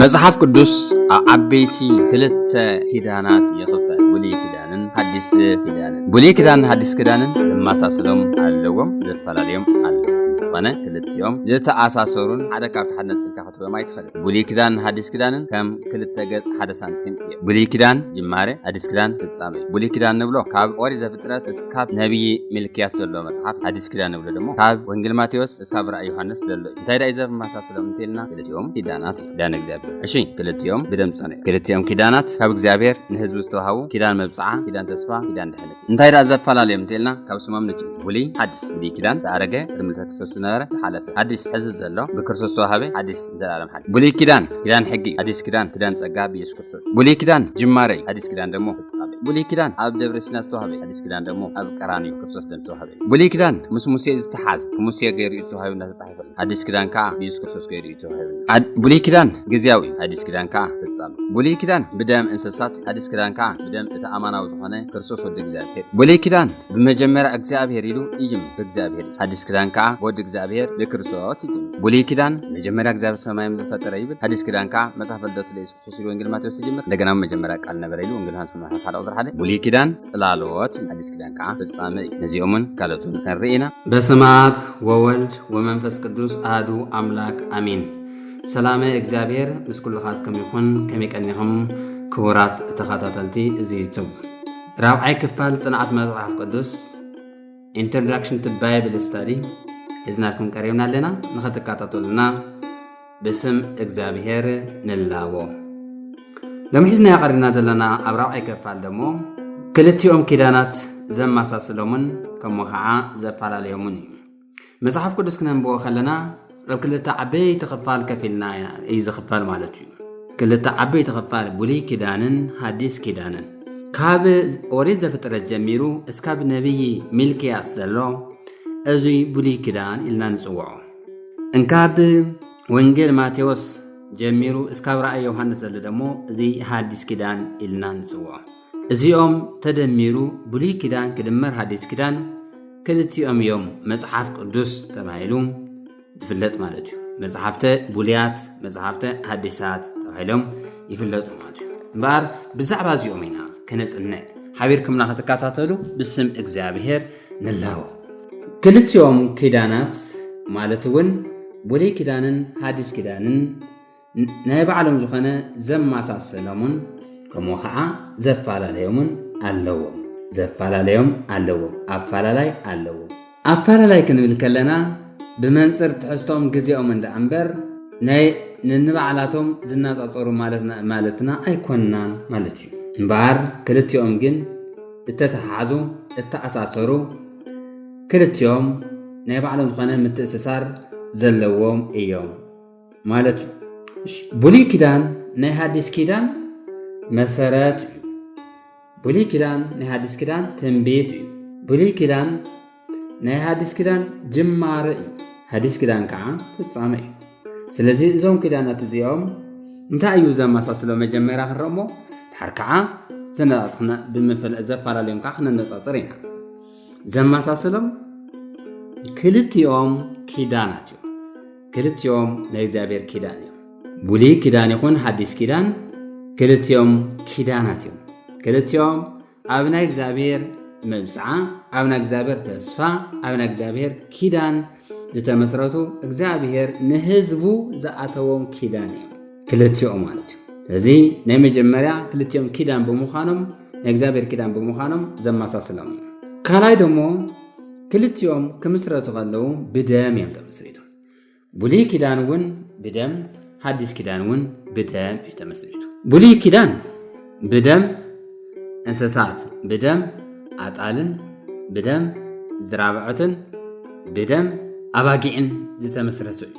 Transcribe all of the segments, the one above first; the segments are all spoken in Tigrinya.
መጽሓፍ ቅዱስ ኣብ ዓበይቲ ክልተ ኪዳናት ይኽፈል፣ ብሉይ ኪዳንን ሓዲስ ኪዳንን። ብሉይ ኪዳንን ሓዲስ ኪዳንን ዘመሳስሎም ኣለዎም፣ ዘፈላለዮም ኣለዎም። ዝኾነ ክልቲኦም ዝተኣሳሰሩን ሓደ ካብቲ ሓደ ነጽልካ ብማይ ትፈልጥ ብሉይ ኪዳንን ሓዲስ ኪዳንን ከም ክልተ ገጽ ሓደ ሳንቲም እየ ብሉይ ኪዳን ጅማሬ ሓዲስ ኪዳን ፍጻሜ ብሉይ ኪዳን ንብሎ ካብ ኦሪት ዘፍጥረት እስካብ ነብዪ ሚልክያስ ዘሎ መጽሓፍ ሓዲስ ኪዳን ንብሎ ደሞ ካብ ወንጌል ማቴዎስ እስካብ ራእይ ዮሃንስ ዘሎ እዩ እንታይ ዳዩ ዘመሳስሎም እንተልና ክልቲኦም ኪዳናት እዩ ኪዳን እግዚኣብሔር እሺ ክልቲኦም ብደም ጸነ ክልቲኦም ኪዳናት ካብ እግዚኣብሔር ንህዝቢ ዝተዋሃቡ ኪዳን መብጽዓ ኪዳን ተስፋ ኪዳን ድሕነት እንታይ ደኣ ዘፈላለዮም እንተልና ካብ ስሞም ንጭም ውልይ ሓድስ ብሉይ ኪዳን ዝኣረገ ቅድሚ ልደተ ክርስቶስ ዝነበረ ዝሓለፈ ሓድሽ ሕዚ ዘሎ ብክርስቶስ ዝተዋሃበ ሓድሽ ንዘለኣለም ሓድሽ ብሉይ ኪዳን ኪዳን ሕጊ እዩ ሓድሽ ኪዳን ኪዳን ጸጋ ብኢየሱስ ክርስቶስ ብሉይ ኪዳን ጅማረ እዩ ሓድሽ ኪዳን ደሞ ፍጻሜ ብሉይ ኪዳን ኣብ ደብረ ሲና ዝተዋሃበ እዩ ሓድሽ ኪዳን ደሞ ኣብ ቀራንዮ ክርስቶስ ደም ዝተዋሃበ እዩ ብሉይ ኪዳን ምስ ሙሴ ዝተሓዝ ሙሴ ገይሩ እዩ ዝተዋሃበ እናተጻሕፈ ተኸፍል ሓዲስ ኪዳን ከኣ ብየሱስ ክርስቶስ ገይሩ እዩ ተዋሂቡ ብሉይ ኪዳን ግዝያዊ እዩ ሓዲስ ኪዳን ከኣ ፍጻም ብሉይ ኪዳን ብደም እንስሳት ሓዲስ ኪዳን ከኣ ብደም እቲ ኣማናዊ ዝኾነ ክርስቶስ ወዲ እግዚኣብሔር ብሉይ ኪዳን ብመጀመርያ እግዚኣብሔር ኢሉ እይም ብእግዚኣብሔር እዩ ሓዲስ ኪዳን ከኣ ወዲ እግዚኣብሔር ብክርስቶስ እዩ ብሉይ ኪዳን መጀመርያ እግዚኣብሔር ሰማይም ዝፈጠረ ይብል ሓዲስ ኪዳን ከኣ መጽሓፍ ልደቱ ለየሱስ ሱስሉ ወንጌል ማቴዎስ ዝጅምር እንደገና መጀመርያ ቃል ነበረ ኢሉ ወንጌል ዮሃንስ ምዕራፍ ሓደ ቁፅሪ ሓደ ብሉይ ኪዳን ጽላሎት ኣዲስ ኪዳን ከዓ ፍጻመ እዩ ነዚኦምን ካልኦትን ክንርኢ ኢና በስመ ኣብ ወወልድ ወመንፈስ ቅዱስ ኣህዱ ኣምላክ ኣሚን ሰላመ እግዚኣብሔር ምስ ኩልኻትኩም ይኹን ከመይ ቀኒኹም ክቡራት ተኸታተልቲ እዚ ዩቱብ ራብዓይ ክፋል ፅንዓት መፅሓፍ ቅዱስ ኢንትሮዳክሽን ቱ ባይብል ስታዲ ሒዝናልኩም ቀሪብና ኣለና ንኸትከታተሉና ብስም እግዚኣብሄር ንላቦ ሎሚ ሒዝናዮ ቀሪብና ዘለና ኣብ ራብዓይ ከፋል ደሞ ክልቲኦም ኪዳናት ዘመሳስሎምን ከምኡ ከዓ ዘፈላለዮምን እዩ መፅሓፍ ቅዱስ ክነንብቦ ከለና ኣብ ክልተ ዓበይቲ ክፋል ከፊልና እዩ ዝኽፈል ማለት እዩ ክልተ ዓበይቲ ክፋል ብሉይ ኪዳንን ሃዲስ ኪዳንን ካብ ኦሪት ዘፍጥረት ጀሚሩ እስካብ ነቢይ ሚልክያስ ዘሎ እዙይ ብሉይ ኪዳን ኢልና ንፅውዖ እንካብ ወንጌል ማቴዎስ ጀሚሩ እስካብ ራእይ ዮሃንስ ዘሎ ደሞ እዚ ሓዲስ ኪዳን ኢልና ንፅውዖ እዚኦም ተደሚሩ ብሉይ ኪዳን ክድመር ሓዲስ ኪዳን ክልቲኦም እዮም መፅሓፍ ቅዱስ ተባሂሉ ዝፍለጥ ማለት እዩ መፅሓፍተ ቡልያት መፅሓፍተ ሓዲሳት ተባሂሎም ይፍለጡ ማለት እዩ እምበኣር ብዛዕባ እዚኦም ኢና ክነፅንዕ ሓቢርኩምና ክትከታተሉ ብስም እግዚኣብሄር ንላቦ። ክልቲኦም ኪዳናት ማለት እውን ብሉይ ኪዳንን ሓዲስ ኪዳንን ናይ ባዕሎም ዝኾነ ዘመሳሰሎምን ከምኡ ከዓ ዘፈላለዮምን ኣለዎም ዘፈላለዮም ኣለዎም ኣፈላላይ ኣለዎም ኣፈላላይ ክንብል ከለና ብመንፅር ትሕዝቶም ግዜኦም እንዳ እምበር ናይ ንንባዕላቶም ዝናፃፀሩ ማለትና ኣይኮንናን ማለት እዩ እምበኣር ክልቲኦም ግን ዝተተሓሓዙ እተኣሳሰሩ ክልቲኦም ናይ ባዕሎም ዝኾነ ምትእስሳር ዘለዎም እዮም ማለት እዩ ብሉይ ኪዳን ናይ ሃዲስ ኪዳን መሰረት እዩ ብሉይ ኪዳን ናይ ሃዲስ ኪዳን ትንቢት እዩ ብሉይ ኪዳን ናይ ሓዲስ ኪዳን ጅማረ እዩ ሓዲስ ኪዳን ከዓ ፍጻመ እዩ ስለዚ እዞም ኪዳናት እዚኦም እንታይ እዩ ዘመሳስሎ መጀመርያ ክንረሞ ድሓር ከዓ ዘነፃፅና ዘፈላለዮም ከዓ ክነነፃፅር ኢና ዘመሳስሎም ክልቲኦም ኪዳናት እዮም ክልቲኦም ናይ እግዚኣብሔር ኪዳን እዮም ብሉይ ኪዳን ይኹን ሓዲስ ኪዳን ክልቲኦም ኪዳናት እዮም ክልቲኦም ኣብ ናይ እግዚኣብሔር መብፅዓ ኣብ ናይ እግዚኣብሔር ተስፋ ኣብ ናይ እግዚኣብሔር ኪዳን ዝተመስረቱ እግዚኣብሔር ንህዝቡ ዝኣተዎም ኪዳን እዩ ክልቲኦም ማለት እዩ ስለዚ ናይ መጀመርያ ክልቲኦም ኪዳን ብምዃኖም ናይ እግዚኣብሔር ኪዳን ብምዃኖም ዘመሳስሎም እዩ ካልኣይ ደሞ ክልቲኦም ክምስረቱ ከለዉ ብደም እዮም ተመስሪቶም ብሉይ ኪዳን እውን ብደም ሓዲስ ኪዳን እውን ብደም እዩ ተመስሪቱ ብሉይ ኪዳን ብደም እንስሳት ብደም ኣጣልን ብደም ዝራብዐትን ብደም ኣባጊዕን ዝተመስረቱ እዩ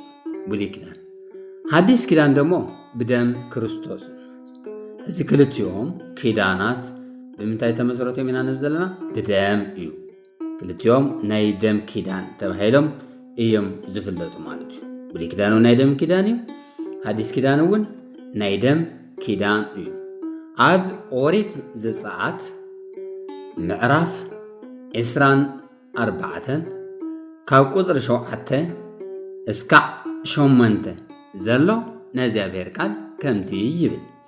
ብሉይ ኪዳን ሓዲስ ኪዳን ደሞ ብደም ክርስቶስ እዚ ክልቲኦም ኪዳናት ብምንታይ ተመስረቶም ኢና ንብ ዘለና ብደም እዩ ክልቲኦም ናይ ደም ኪዳን ተባሂሎም እዮም ዝፍለጡ ማለት እዩ ብሉይ ኪዳን እውን ናይ ደም ኪዳን እዩ ሓዲስ ኪዳን እውን ናይ ደም ኪዳን እዩ ኣብ ኦሪት ዘፀኣት ምዕራፍ ዕስራን ኣርባዕተን ካብ ቁፅሪ ሸውዓተ እስካዕ ሸመንተ ዘሎ ናይ እግዚኣብሔር ቃል ከምዚ ይብል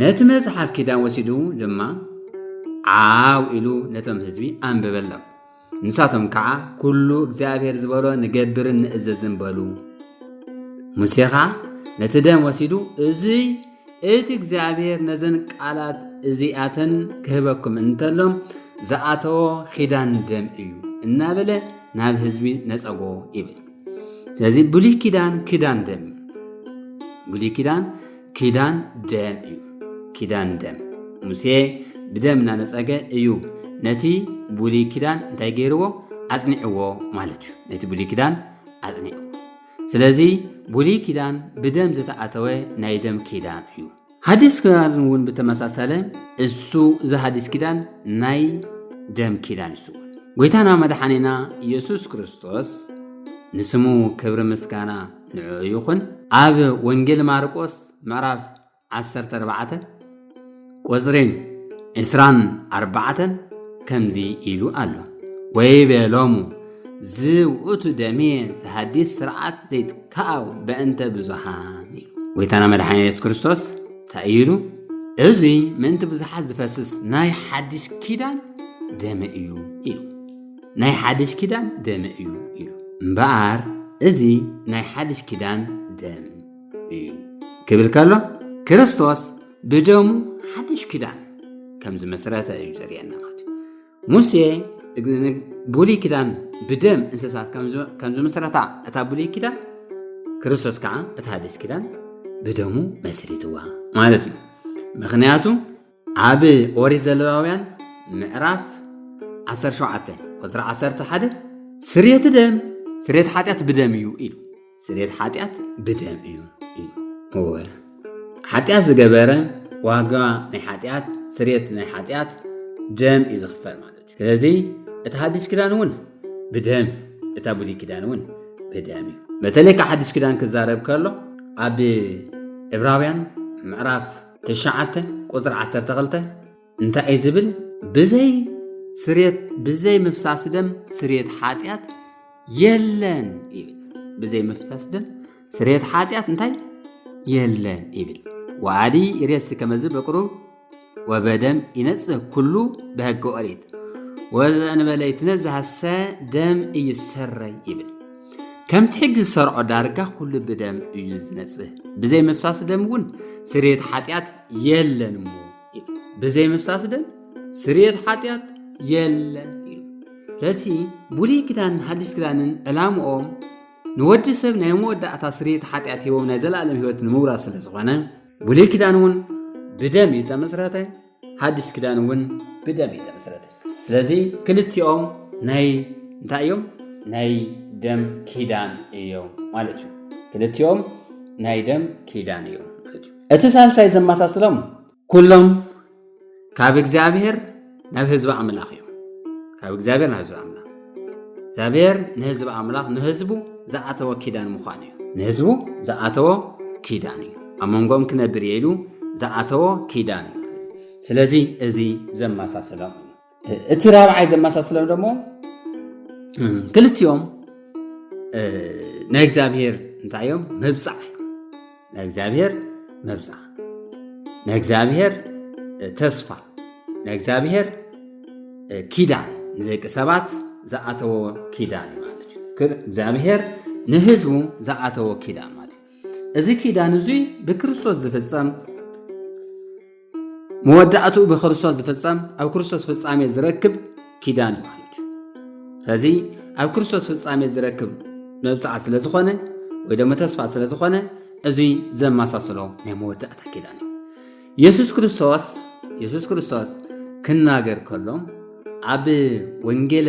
ነቲ መጽሓፍ ኪዳን ወሲዱ ድማ ዓው ኢሉ ነቶም ህዝቢ ኣንበበሎም። ንሳቶም ከዓ ኩሉ እግዚኣብሔር ዝበሎ ንገብርን ንእዘዝን በሉ። ሙሴ ከዓ ነቲ ደም ወሲዱ እዙይ እቲ እግዚኣብሔር ነዘን ቃላት እዚኣተን ክህበኩም እንተሎም ዝኣተዎ ኪዳን ደም እዩ እናበለ ናብ ህዝቢ ነፀጎ ይብል። ስለዚ ብሉይ ኪዳን ኪዳን ደም ብሉይ ኪዳን ኪዳን ደም እዩ ኪዳን ደም ሙሴ ብደም እናነፀገ እዩ ነቲ ብሉይ ኪዳን እንታይ ገይርዎ ኣጽኒዕዎ ማለት እዩ ነቲ ብሉይ ኪዳን ኣጽኒዕዎ ስለዚ ብሉይ ኪዳን ብደም ዝተኣተወ ናይ ደም ኪዳን እዩ ሓዲስ ኪዳን እውን ብተመሳሰለ እሱ እዚ ሓዲስ ኪዳን ናይ ደም ኪዳን እሱ ጎይታና መድሓኒና ኢየሱስ ክርስቶስ ንስሙ ክብሪ ምስጋና ንዕኡ ይኹን ኣብ ወንጌል ማርቆስ ምዕራፍ 14 ቁፅሪ 24 ከምዚ ኢሉ ኣሎ ወይ በሎሙ ዝውእቱ ደሜ ዝሃዲስ ስርዓት ዘይትካኣው በእንተ ብዙሃን ኢሉ ጎይታና መድሓኒ የሱስ ክርስቶስ እንታይ ኢሉ እዚ ምእንቲ ብዙሓት ዝፈስስ ናይ ሓዲስ ኪዳን ደመ እዩ ኢሉ ናይ ሓድሽ ኪዳን ደመ እዩ ኢሉ እምበኣር እዚ ናይ ሓድሽ ኪዳን ደም እዩ ክብል ከሎ ክርስቶስ ብደሙ ሓድሽ ኪዳን ከም ዝመስረተ እዩ ዘርእየና ማለት እዩ ሙሴ ብሉይ ኪዳን ብደም እንስሳት ከም ዝመስረታ እታ ብሉይ ኪዳን ክርስቶስ ከዓ እታ ሓድሽ ኪዳን ብደሙ መስሪትዋ ማለት እዩ ምክንያቱ ኣብ ኦሪት ዘለዋውያን ምዕራፍ 17 ቁፅሪ 11 ስርየት ደም ስርየት ሓጢኣት ብደም እዩ ኢሉ ስርየት ሓጢኣት ብደም እዩ ኢሉ እወ ሓጢኣት ዝገበረ ዋጋ ናይ ሓጢኣት ስርየት ናይ ሓጢኣት ደም እዩ ዝኽፈል ማለት እዩ ስለዚ እቲ ሓዲስ ኪዳን እውን ብደም እታ ብሉይ ኪዳን እውን ብደም እዩ በተለይ ካብ ሓዲስ ኪዳን ክዛረብ ከሎ ኣብ ዕብራውያን ምዕራፍ ትሽዓተ ቁፅሪ ዓሰርተ ክልተ እንታይ እዩ ዝብል ብዘይ ስሬት ብዘይ ምፍሳስ ደም ስሬት ሓጢኣት የለን ይብል ብዘይ ምፍሳስ ደም ስሬት ሓጢኣት እንታይ የለን ይብል ወኣዲ ይሬሲ ከመዚ በቅሩብ ወበደም ይነጽህ ኩሉ በሕገ ኦሪት ወዘእንበለ ይትነዝሃሰ ደም እይሰረይ ይብል ከምቲ ሕጊ ዝሰርዖ ዳርጋ ኩሉ ብደም እዩ ዝነጽህ ብዘይ ምፍሳስ ደም እውን ስርየት ሓጢኣት የለን እሞ ብዘይ ምፍሳስ ደም ስርየት ሓጢኣት የለን እዩ ስለዚ ብሉይ ኪዳንን ሓዲስ ኪዳንን ዕላምኦም ንወዲ ሰብ ናይ መወዳእታ ስርየት ሓጢኣት ሂቦም ናይ ዘለኣለም ህይወት ንምውራስ ስለ ዝኾነ ብሉይ ኪዳን እውን ብደም እዩ ተመስረተ ሓድሽ ክዳን እውን ብደም እዩ ተመስረተ ስለዚ ክልቲኦም ናይ እንታይ እዮም ናይ ደም ኪዳን እዮም ማለት እዩ ክልቲኦም ናይ ደም ኪዳን እዮም ማለት እዩ እቲ ሳልሳይ ዘመሳስሎም ኩሎም ካብ እግዚኣብሔር ናብ ህዝቢ ኣምላኽ እዮም ካብ እግዚኣብሔር ናብ ህዝቢ ኣምላኽ እግዚኣብሔር ንህዝቢ ኣምላኽ ንህዝቡ ዝኣተወ ኪዳን ምዃኑ እዩ ንህዝቡ ዝኣተወ ኪዳን እዩ ኣብ መንጎኦም ክነብር እየ ኢሉ ዝኣተወ ኪዳን እዩ ስለዚ እዚ ዘመሳስሎም እዩ እቲ ራብዓይ ዘመሳስሎም ደሞ ክልቲኦም ናይ እግዚኣብሔር እንታይ እዮም ምብፃዕ ናይ እግዚኣብሔር መብፃ ናይ እግዚኣብሔር ተስፋ ናይ እግዚኣብሔር ኪዳን ንደቂ ሰባት ዝኣተዎ ኪዳን ማለት እዩ እግዚኣብሔር ንህዝቡ ዝኣተዎ ኪዳን ማለት እዩ እዚ ኪዳን እዙይ ብክርስቶስ ዝፍፀም መወዳእትኡ ብክርስቶስ ዝፍጸም ኣብ ክርስቶስ ፍጻሜ ዝረክብ ኪዳን እዩ ማለት እዩ ስለዚ ኣብ ክርስቶስ ፍጻሜ ዝረክብ መብጽዓ ስለ ዝኾነ ወይ ደሞ ተስፋ ስለ ዝኾነ እዙይ ዘመሳስሎ ናይ መወዳእታ ኪዳን እዩ የሱስ ክርስቶስ የሱስ ክርስቶስ ክናገር ከሎ ኣብ ወንጌለ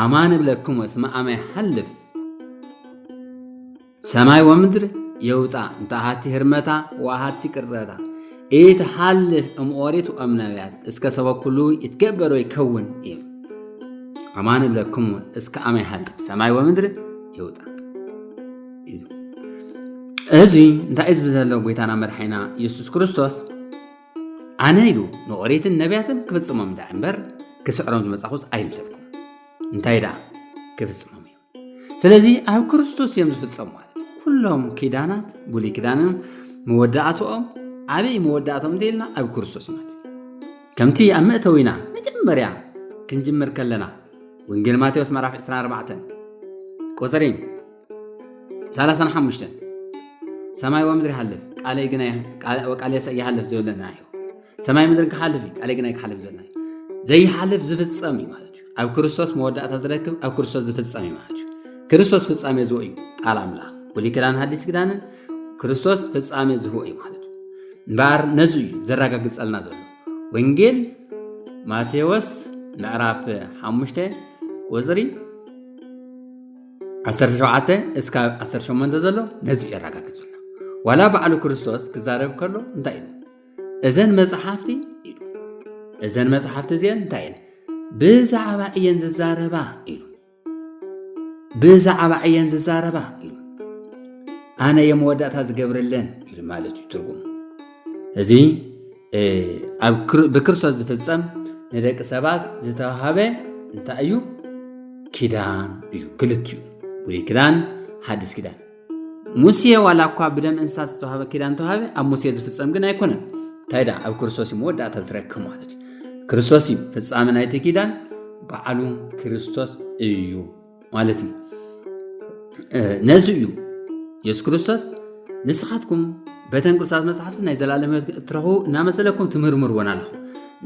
ኣማን እብለክም ወስመ ኣመ ይሓልፍ ሰማይ ወምድር የውጣ እንተ ሃቲ ህርመታ ወሃቲ ቅርጸታ ኢት ሃልፍ እም ኦሪት ወእም ነቢያት እስከ ሰበ ኩሉ ይትገበሮ ይከውን እዩ ኣማን እብለክሙ እስከ ኣመ ይሃልፍ ሰማይ ወምድር ይውጣ እዚ እንታይ እዩ ዝብል ዘሎ ጎይታና መድሓይና ኢየሱስ ክርስቶስ ኣነ ኢሉ ንኦሪትን ነቢያትን ክፍጽሞም ድኣ እምበር ክስዕሮም ዝመጻኹስ ኣይምሰልኩም እንታይ ድኣ ክፍጽሞም እዩ ስለዚ ኣብ ክርስቶስ እዮም ዝፍጸሙ ማለት ኩሎም ኪዳናት ብሉይ ኪዳንን መወዳእትኦም ዓብይ መወዳእቶም እንተኢልና ኣብ ክርስቶስ ማለት ከምቲ ኣብ መእተዊና መጀመርያ ክንጅምር ከለና ወንጌል ማቴዎስ ምዕራፍ 24 ቁፅሪ ሰላሳን ሓሙሽተን ሰማይ ወምድሪ ይሃልፍ ቃለይ ግና ቃልየሰ ይሃልፍ ዝብለና እዩ ሰማይ ምድሪ ክሓልፍ እዩ ቃለይ ግና ክሓልፍ ዝብለና እዩ ዘይሓልፍ ዝፍፀም እዩ ማለት እዩ ኣብ ክርስቶስ መወዳእታ ዝረክብ ኣብ ክርስቶስ ዝፍፀም እዩ ማለት እዩ ክርስቶስ ፍፃሜ ዝሁ እዩ ቃል ኣምላኽ ብሉይ ክዳን ሃዲስ ክዳንን ክርስቶስ ፍፃሜ ዝሁ እዩ ማለት እዩ እምበኣር ነዚ እዩ ዘረጋግፀልና ዘሎ ወንጌል ማቴዎስ ምዕራፍ ሓሙሽተ ቁፅሪ 17 እስካብ 18 ዘሎ ነዚ የረጋግጹና ዋላ በዓሉ ክርስቶስ ክዛረብ ከሎ እንታይ ኢሉ እዘን መጽሓፍቲ ኢሉ እዘን መጽሓፍቲ እዚአን እንታይ እየን ብዛዕባ እየን ዝዛረባ ኢሉ ብዛዕባ እየን ዝዛረባ ኢሉ ኣነ የመወዳእታ ዝገብረለን ኢሉ ማለት እዩ ትርጉም እዚ ብክርስቶስ ዝፍፀም ንደቂ ሰባት ዝተዋሃበ እንታይ እዩ? ኪዳን እዩ። ክልቲኡ ብሉይ ኪዳን፣ ሓዲስ ኪዳን። ሙሴ ዋላ እኳ ብደም እንስሳት ዝተዋሃበ ኪዳን ተዋሃበ፣ ኣብ ሙሴ ዝፍፀም ግን ኣይኮነን። እንታይ ደኣ ኣብ ክርስቶስ እዩ መወዳእታ ዝረክብ ማለት እዩ። ክርስቶስ እዩ ፍፃመ ናይቲ ኪዳን፣ በዓሉ ክርስቶስ እዩ። ማለት እዩ ነዚ እዩ የሱስ ክርስቶስ ንስኻትኩም በተን ቅዱሳት መፅሓፍቲ ናይ ዘላለም ህይወት እትረኽቡ እናመሰለኩም ትምርምርወን ኣለኹም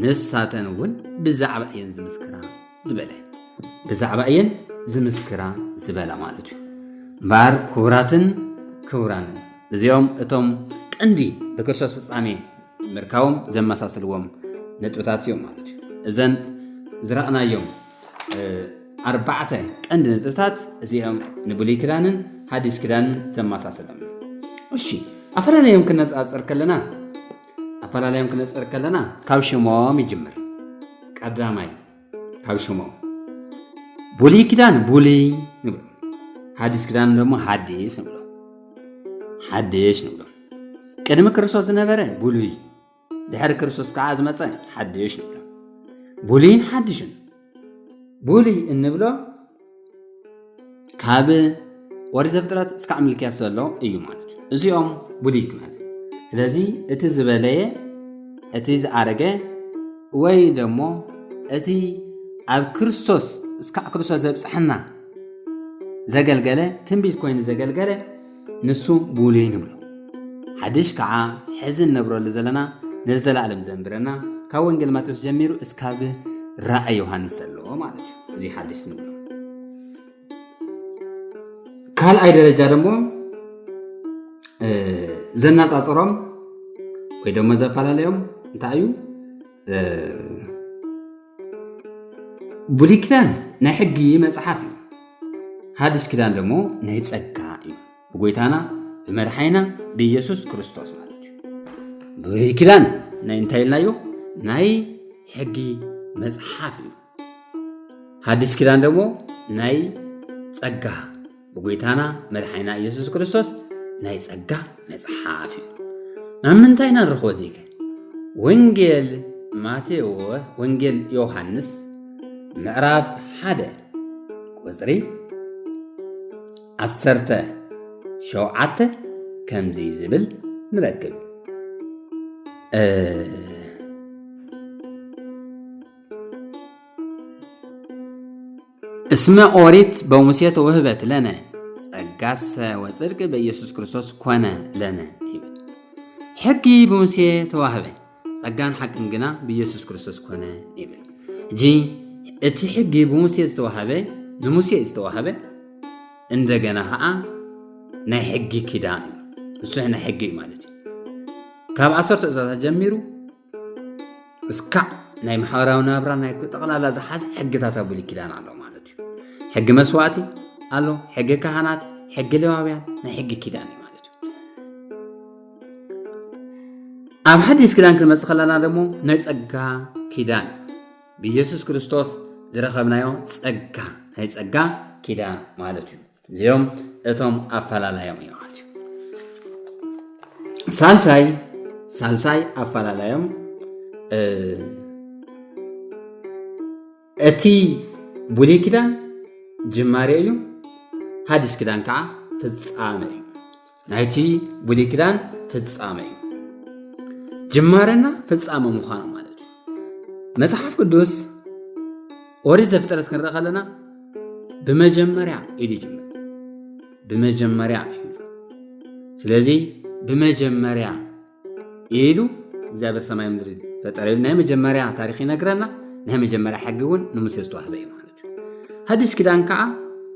ንሳተን እውን ብዛዕባ እየን ዝምስክራ ዝበለ ብዛዕባ እየን ዝምስክራ ዝበላ ማለት እዩ እምበኣር ክቡራትን ክቡራንን እዚኦም እቶም ቀንዲ ብክርስቶስ ፍፃሜ ምርካቦም ዘመሳስልዎም ነጥብታት እዮም ማለት እዩ እዘን ዝረእናዮም ኣርባዕተ ቀንዲ ነጥብታት እዚኦም ንብሉይ ክዳንን ሓዲስ ክዳንን ዘመሳስሎም እሺ ኣፈላለዮም ክነፃፅር ከለና ኣፈላለዮም ክነፅር ከለና ካብ ሽሞም ይጅምር ቀዳማይ ካብ ሽሞም ብሉይ ክዳን ብሉይ ንብሎ ሓዲስ ክዳን ደሞ ሓዲስ ንብሎ ሓዲሽ ንብሎ ቅድሚ ክርስቶስ ዝነበረ ብሉይ ድሕሪ ክርስቶስ ከዓ ዝመፀ ሓድሽ ንብሎ ብሉይን ሓድሽን ብሉይ እንብሎ ካብ ወሪት ዘፍጥረት እስካዕ ምልክያስ ዘሎ እዩ ማለት እዩ እዚኦም ብሉይ ክበሃል ስለዚ እቲ ዝበለየ እቲ ዝኣረገ ወይ ደሞ እቲ ኣብ ክርስቶስ እስካዕ ክርስቶስ ዘብፅሐና ዘገልገለ ትንቢት ኮይኑ ዘገልገለ ንሱ ብሉይ ንብሎ ሓድሽ ከዓ ሕዚ እንነብረሉ ዘለና ንዘላለም ዘንብረና ካብ ወንጌል ማቴዎስ ጀሚሩ እስካብ ራእይ ዮሃንስ ዘለዎ ማለት እዩ እዚ ሓድሽ ንብሎ ካልኣይ ደረጃ ደግሞ ዘነፃፅሮም ወይ ደሞ ዘፈላለዮም እንታይ እዩ ብሉይ ኪዳን ናይ ሕጊ መጽሓፍ እዩ ሓድሽ ኪዳን ደሞ ናይ ጸጋ እዩ ብጎይታና ብመድሓይና ብኢየሱስ ክርስቶስ ማለት እዩ ብሉይ ኪዳን ናይ እንታይ ኢልናዮ ናይ ሕጊ መጽሓፍ እዩ ሓድሽ ኪዳን ደሞ ናይ ጸጋ ብጎይታና መድሓኒና ኢየሱስ ክርስቶስ ናይ ጸጋ መጽሓፍ እዩ ኣብ ምንታይ ኢና ንረኽቦ ዚከ ወንጌል ማቴዎ ወንጌል ዮሃንስ ምዕራፍ ሓደ ቁፅሪ ዓሰርተ ሸውዓተ ከምዚ ዝብል ንረክብ እስመ ኦሪት በሙሴ ተወህበት ለነ ጸጋሰ ወጽድቅ በኢየሱስ ክርስቶስ ኮነ ለነ ይብል። ሕጊ ብሙሴ ተዋህበ ጸጋን ሓቅን ግና ብኢየሱስ ክርስቶስ ኮነ ይብል። እጂ እቲ ሕጊ ብሙሴ ዝተዋህበ ንሙሴ ዝተዋህበ እንደገና ከዓ ናይ ሕጊ ኪዳን እዩ። ንሱሕ ናይ ሕጊ እዩ ማለት እዩ። ካብ ዓሰርተ ትእዛዛት ጀሚሩ እስካዕ ናይ ማሕበራዊ ናብራ ናይ ጠቕላላ ዝሓዘ ሕግታት ኣብ ብሉይ ኪዳን ኣሎ ማለት እዩ ሕጊ መስዋእቲ ኣሎ ሕጊ ካህናት ሕጊ ሌዋውያን ናይ ሕጊ ኪዳን እዩ ማለት እዩ ኣብ ሓዲስ ኪዳን ክንመፅእ ከለና ደግሞ ናይ ፀጋ ኪዳን ብኢየሱስ ክርስቶስ ዝረኸብናዮ ፀጋ ናይ ፀጋ ኪዳን ማለት እዩ እዚኦም እቶም ኣፈላላዮም እዮም ማለት እዩ ሳልሳይ ሳልሳይ ኣፈላላዮም እቲ ብሉይ ኪዳን ጅማሬ እዩ ሓዲስ ኪዳን ከዓ ፍፃመ እዩ ናይቲ ብሉይ ኪዳን ፍጻመ እዩ ጅማረና ፍጻመ ምዃኑ ማለት እዩ መጽሓፍ ቅዱስ ኦሪት ዘፍጥረት ክንርኢ ከለና ብመጀመርያ ኢሉ ይጅምር ብመጀመርያ እዩ ስለዚ ብመጀመርያ ኢሉ እግዚኣብሔር ሰማይ ምድሪ ፈጠረ ኢሉ ናይ መጀመርያ ታሪክ ይነግረና ናይ መጀመርያ ሕጊ እውን ንሙሴ ዝተዋህበ እዩ ማለት እዩ ሓዲስ ኪዳን ከዓ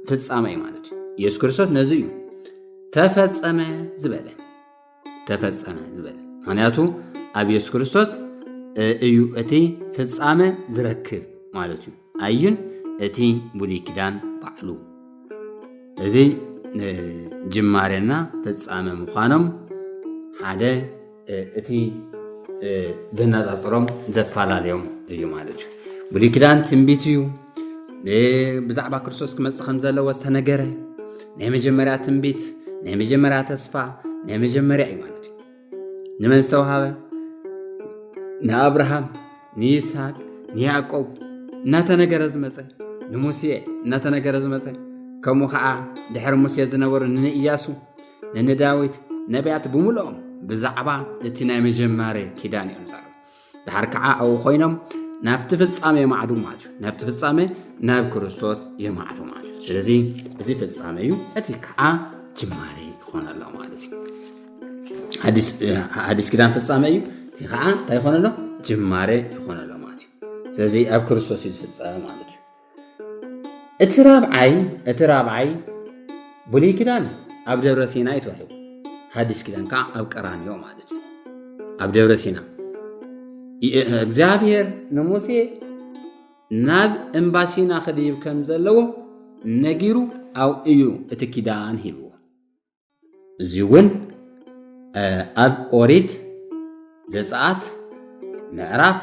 ፍፃመ እዩ ማለት እዩ ኢየሱስ ክርስቶስ ነዚ እዩ ተፈፀመ ዝበለ ተፈፀመ ዝበለ ምክንያቱ ኣብ ኢየሱስ ክርስቶስ እዩ እቲ ፍፃመ ዝረክብ ማለት እዩ ኣዩን እቲ ብሉይ ኪዳን ባዕሉ እዚ ጅማሬና ፍጻመ ምዃኖም ሓደ እቲ ዘነጻጽሮም ዘፈላለዮም እዩ ማለት እዩ ብሉይ ኪዳን ትንቢት እዩ ብዛዕባ ክርስቶስ ክመፅእ ከም ዘለዎ ዝተነገረ ናይ መጀመርያ ትንቢት ናይ መጀመርያ ተስፋ ናይ መጀመርያ እዩ ማለት እዩ ንመን ዝተውሃበ ንኣብርሃም ንይስሃቅ ንያዕቆብ እናተነገረ ዝመፀ ንሙሴ እናተነገረ ዝመፀ ከምኡ ከዓ ድሕሪ ሙሴ ዝነበሩ ንንእያሱ ንንዳዊት ነቢያት ብምልኦም ብዛዕባ እቲ ናይ መጀመርያ ኪዳን እዮም ድሓር ከዓ ኣብኡ ኮይኖም ናብቲ ፍጻሜ የማዕዱ ማለት እዩ ናብቲ ፍጻሜ ናብ ክርስቶስ የማዕዱ ማለት እዩ ስለዚ እዚ ፍጻሜ እዩ እቲ ከዓ ጅማሬ ይኾነ ኣሎ ማለት እዩ ሓዲስ ኪዳን ፍጻሜ እዩ እቲ ከዓ እንታይ ይኾነ ኣሎ ጅማሬ ይኾነ ኣሎ ማለት እዩ ስለዚ ኣብ ክርስቶስ እዩ ዝፍፀመ ማለት እዩ እቲ ራብዓይ እቲ ራብዓይ ብሉይ ኪዳን ኣብ ደብረ ሲና እዩ ተዋሂቡ ሓድሽ ኪዳን ከዓ ኣብ ቀራንዮ ማለት እዩ ኣብ ደብረ ሲና እግዚኣብሔር ንሙሴ ናብ እምባ ሲና ክድይብ ከም ዘለዎ ነጊሩ ኣብኡ እዩ እቲ ኪዳን ሂብዎ እዚ እውን ኣብ ኦሪት ዘፀኣት ምዕራፍ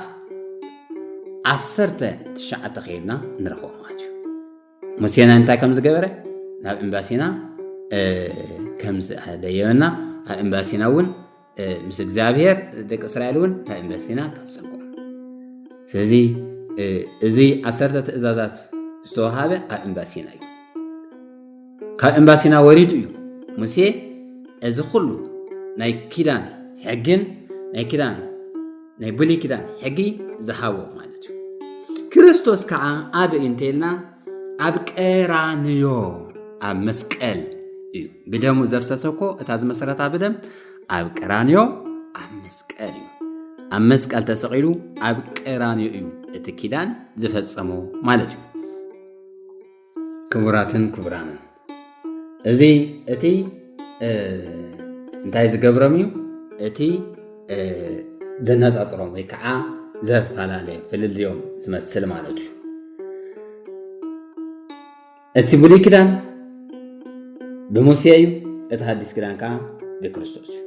ዓሰርተ ትሽዓተ ከይድና ንረኽቦ ማለት እዩ ሙሴና እንታይ ከም ዝገበረ ናብ ኤምባሲና ከም ዝኣደየበና ኣብ ኤምባሲና እውን ምስ እግዚኣብሔር ደቂ እስራኤል እውን እንታይ እምበሲና ካብ ፀንቆ ስለዚ እዚ ዓሰርተ ትእዛዛት ዝተዋሃበ ኣብ እምባሲና እዩ ካብ እምባሲና ወሪዱ እዩ ሙሴ እዚ ኩሉ ናይ ኪዳን ሕግን ናይ ኪዳን ናይ ብሉይ ኪዳን ሕጊ ዝሃቦ ማለት እዩ ክርስቶስ ከዓ ኣበይ እንተይልና ኣብ ቀራንዮ ኣብ መስቀል እዩ ብደሙ ዘፍሰሰ እኮ እታ ዝመሰረታ ብደም ኣብ ቀራንዮ ኣብ መስቀል እዩ ኣብ መስቀል ተሰቂሉ ኣብ ቀራንዮ እዩ እቲ ኪዳን ዝፈጸሞ ማለት እዩ ክቡራትን ክቡራንን እዚ እቲ እንታይ ዝገብሮም እዩ እቲ ዘነፃፅሮም ወይ ከዓ ዘፈላለየ ፍልልዮም ዝመስል ማለት እዩ እቲ ብሉይ ኪዳን ብሙሴ እዩ እቲ ሓዲስ ኪዳን ከዓ ብክርስቶስ እዩ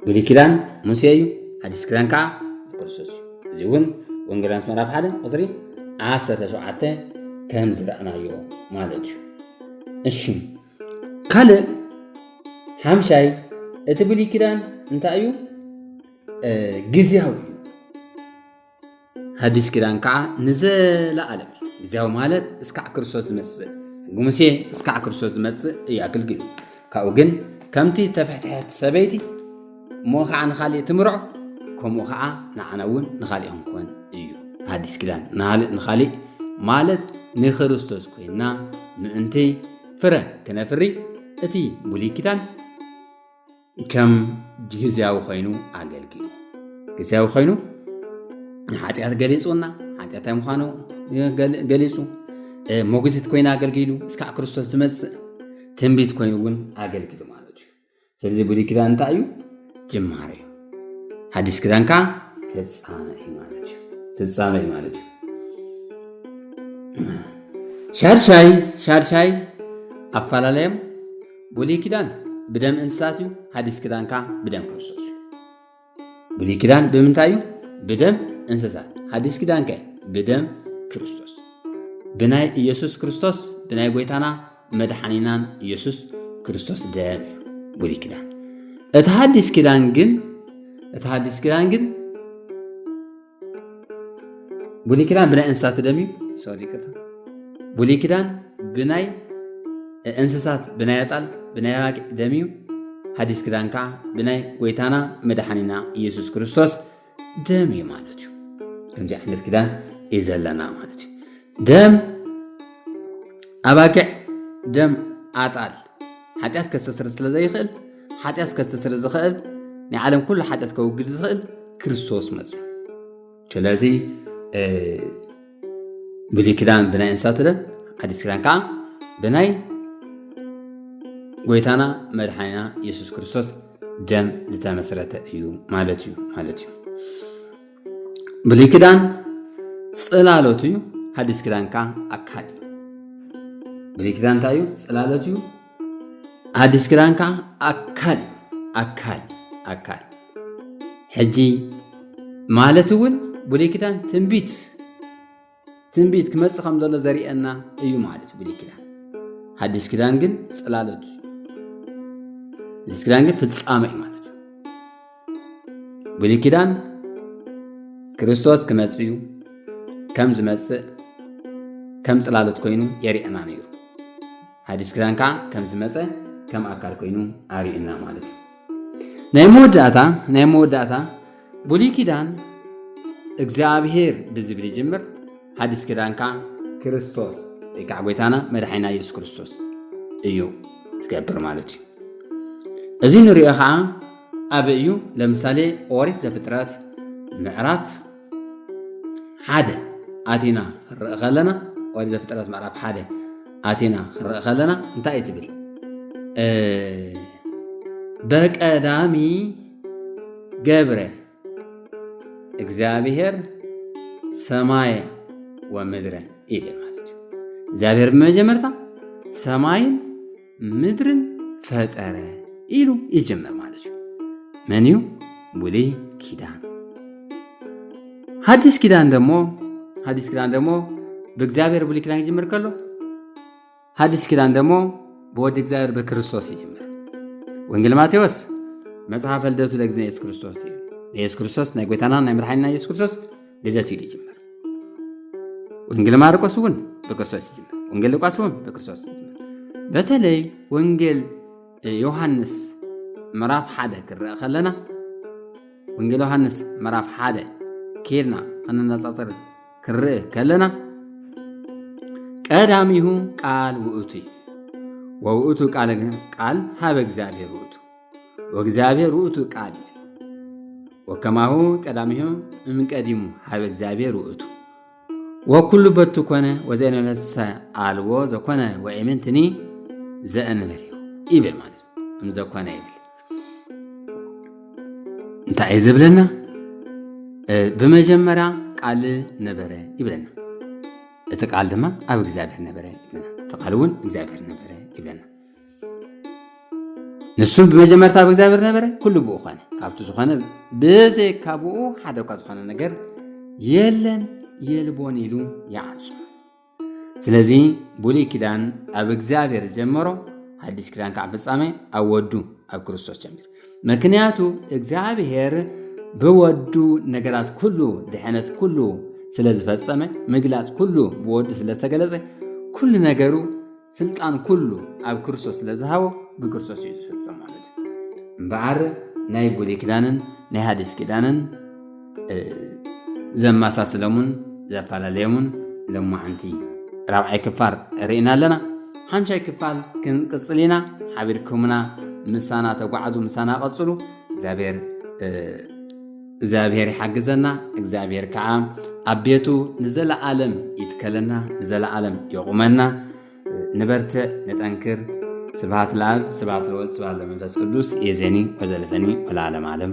ብሉይ ኪዳን ሙሴ እዩ ሓዲስ ኪዳን ከዓ ክርስቶስ እዩ እዚ እውን ወንጌላውያት ምዕራፍ ሓደ ቁፅሪ ዓሰርተ ሸውዓተ ከም ዝረኣናዮ ማለት እዩ እሺ ካልእ ሓምሻይ እቲ ብሉይ ኪዳን እንታይ እዩ ግዝያዊ እዩ ሓዲስ ኪዳን ከዓ ንዘለኣለም ግዜያዊ ማለት እስካዕ ክርስቶስ ዝመፅእ ሕጊ ሙሴ እስካዕ ክርስቶስ ዝመፅእ እዩ ኣገልግሉ ካብኡ ግን ከምቲ ተፍሕትሐት ሰበይቲ እሞ ከዓ ንካሊእ ትምርዖ ከምኡ ከዓ ንዓና እውን ንካሊእ ክንኮን እዩ ሓዲስ ኪዳን ንካሊእ ማለት ንክርስቶስ ኮይና ምእንቲ ፍረ ክነፍሪ እቲ ብሉይ ኪዳን ከም ግዝያዊ ኮይኑ ኣገልጊሉ ግዝያዊ ኮይኑ ንሓጢኣት ገሊፁና ሓጢኣታይ ምዃኑ ገሊፁ ሞግዚት ኮይኑ ኣገልጊሉ እስካዕ ክርስቶስ ዝመፅእ ትንቢት ኮይኑ እውን ኣገልጊሉ ማለት እዩ ስለዚ ብሉይ ኪዳን እንታይ እዩ ጅማሬ እዩ ሓዲስ ኪዳን ከዓ ፍፃመ እዩ ማለት እዩ ፍፃመ እዩ ማለት እዩ ሻድሻይ ሻድሻይ ኣፈላለዮም ብሉይ ኪዳን ብደም እንስሳት እዩ፣ ሓዲስ ኪዳን ከዓ ብደም ክርስቶስ እዩ። ብሉይ ኪዳን ብምንታይ እዩ? ብደም እንስሳት። ሓዲስ ኪዳን ከ ብደም ክርስቶስ፣ ብናይ ኢየሱስ ክርስቶስ፣ ብናይ ጎይታና መድሓኒናን ኢየሱስ ክርስቶስ ደም እዩ ብሉይ ኪዳን። እቲ ሓዲስ ኪዳን ግን እቲ ሓዲስ ኪዳን ግን ብሉይ ኪዳን ብናይ እንስሳት ደም እዩ ሶሪ ይቅርታ ብሉይ ኪዳን ብናይ እንስሳት ብናይ ኣጣል ብናይ ኣባቂ ደም እዩ ሓዲስ ኪዳን ከዓ ብናይ ጎይታና መድሓኒና ኢየሱስ ክርስቶስ ደም እዩ ማለት እዩ ከምዚ ዓይነት ኪዳን እዩ ዘለና ማለት እዩ ደም ኣባጊዕ ደም ኣጣል ሓጢኣት ከስተስር ስለ ዘይኽእል ሓጢኣት ከስተስር ዝኽእል ናይ ዓለም ኩሉ ሓጢኣት ከውግድ ዝኽእል ክርስቶስ መፅ ስለዚ ብሉይ ኪዳን ብናይ እንስሳት ደም ሓዲስ ኪዳን ከዓ ብናይ ጎይታና መድሓኒና የሱስ ክርስቶስ ደም ዝተመስረተ እዩ ማለት እዩ ማለት እዩ ብሉይ ኪዳን ጽላሎት እዩ ሓዲስ ኪዳን ከዓ ኣካል እዩ ብሉይ ኪዳን እንታይ እዩ ጽላሎት እዩ ሓዲስ ኪዳን ከዓ ኣካል እዩ ኣካል ኣካል ሕጂ ማለት እውን ብሉይ ኪዳን ትንቢት ትንቢት ክመጽእ ከም ዘሎ ዘርእየና እዩ ማለት ብሉይ ኪዳን ሓዲስ ኪዳን ግን ጽላሎት ሓዲስ ኪዳን ግን ፍጻመ እዩ ማለት እዩ ብሉይ ኪዳን ክርስቶስ ክመጽእ እዩ ከም ዝመጽእ ከም ጽላሎት ኮይኑ የርእየና ነይሩ ሓዲስ ኪዳን ከዓ ከም ዝመጸ ከም ኣካል ኮይኑ ኣርእየና ማለት እዩ ናይ መወዳእታ ናይ መወዳእታ ብሉይ ኪዳን እግዚኣብሄር ብዝብል ይጅምር፣ ሓዲስ ኪዳን ከዓ ክርስቶስ ወይ ከዓ ጎይታና መድሓኒና ኢየሱስ ክርስቶስ እዩ ዝገብር ማለት እዩ። እዚ ንሪኦ ከዓ ኣበይ እዩ? ለምሳሌ ኦሪት ዘፍጥረት ምዕራፍ ሓደ ኣቲና ክንርኢ ከለና ኦሪት ዘፍጥረት ምዕራፍ ሓደ ኣቲና ክንርኢ ከለና እንታይ እዩ ትብል በቀዳሚ ገብረ እግዚኣብሔር ሰማየ ወምድረ ኢለ ማለት እዩ እግዚኣብሔር ብመጀመርታ ሰማይን ምድርን ፈጠረ ኢሉ ይጅምር ማለት እዩ መን እዩ ብሉይ ኪዳን ሓዲስ ኪዳን ደሞ ሓዲስ ኪዳን ደሞ ብእግዚኣብሔር ብሉይ ኪዳን ይጅምር ከሎ ሓዲስ ኪዳን ደሞ ብወዲ እግዚኣብሔር ብክርስቶስ ይጅምር ወንጌል ማቴዎስ መጽሓፈ ልደቱ ለእግዚእነ የሱስ ክርስቶስ እዩ የሱስ ክርስቶስ ናይ ጎይታና ናይ መድሓኒና የሱስ ክርስቶስ ልደት እዩ ዝጅምር ወንጌል ማርቆስ እውን ብክርስቶስ ይጅምር ወንጌል ሉቃስ እውን ብክርስቶስ ይጅምር በተለይ ወንጌል ዮሃንስ ምዕራፍ ሓደ ክረአ ከለና ወንጌል ዮሃንስ ምዕራፍ ሓደ ኬድና ከነነፃፅር ክርእ ከለና ቀዳሚሁ ቃል ውእቱ እዩ ወውእቱ ቃል ቃል ሃበ እግዚኣብሔር ውእቱ ወእግዚኣብሔር ውእቱ ቃል ወከማሁ ቀዳሚሁ እምቀዲሙ ሀበ እግዚኣብሔር ውእቱ ወኩሉ በቱ ኮነ ወዘእንበለሰ አልቦ ዘኮነ ወኢምንትኒ ዘእንበል ይብል ማለት ነው። እምዘኮነ ይብል እንታይ እዩ ዝብለና? ብመጀመርያ ቃል ነበረ ይብለና። እቲ ቃል ድማ ኣብ እግዚኣብሔር ነበረ ይብለና። እቲ ቃል እውን እግዚኣብሔር ነበረ ይብለና። ንሱ ብመጀመርታ ኣብ እግዚኣብሔር ነበረ ኩሉ ብኡ ኾነ ካብቲ ዝኾነ ብዘይካ ብኡ ሓደ እኳ ዝኾነ ነገር የለን የልቦን ኢሉ ይዓጹ ስለዚ ብሉይ ኪዳን ኣብ እግዚኣብሔር ጀመሮ ሓዲስ ኪዳን ከዓ ፍጻሜ ኣብ ወዱ ኣብ ክርስቶስ ጀሚሩ ምክንያቱ እግዚኣብሔር ብወዱ ነገራት ኩሉ ድሕነት ኩሉ ስለ ዝፈጸመ ምግላጽ ኩሉ ብወዱ ስለ ዝተገለጸ ኩሉ ነገሩ ስልጣን ኩሉ ኣብ ክርስቶስ ስለ ዝሃቦ ብክርስቶስ እዩ ዝፍጸም ማለት እዩ እምበኣር ናይ ብሉይ ኪዳንን ናይ ሃዲስ ኪዳንን ዘመሳስለሙን ዘፈላለየሙን ሎማዓንቲ ራብዓይ ክፋል ርኢና ኣለና ሓምሻይ ክፋል ክንቅፅል ኢና ሓቢርኩምና ምሳና ተጓዓዙ ምሳና ቀፅሉ እግዚኣብሔር እግዚኣብሔር ይሓግዘና እግዚኣብሔር ከዓ ኣብ ቤቱ ንዘለዓለም ይትከለና ንዘለዓለም የቑመና ንበርትዕ ንጠንክር ስብሃት ለኣብ ስብሃት ለወልድ ስብሃት ለመንፈስ ቅዱስ የዜኒ ወዘልፈኒ ወለዓለም ዓለም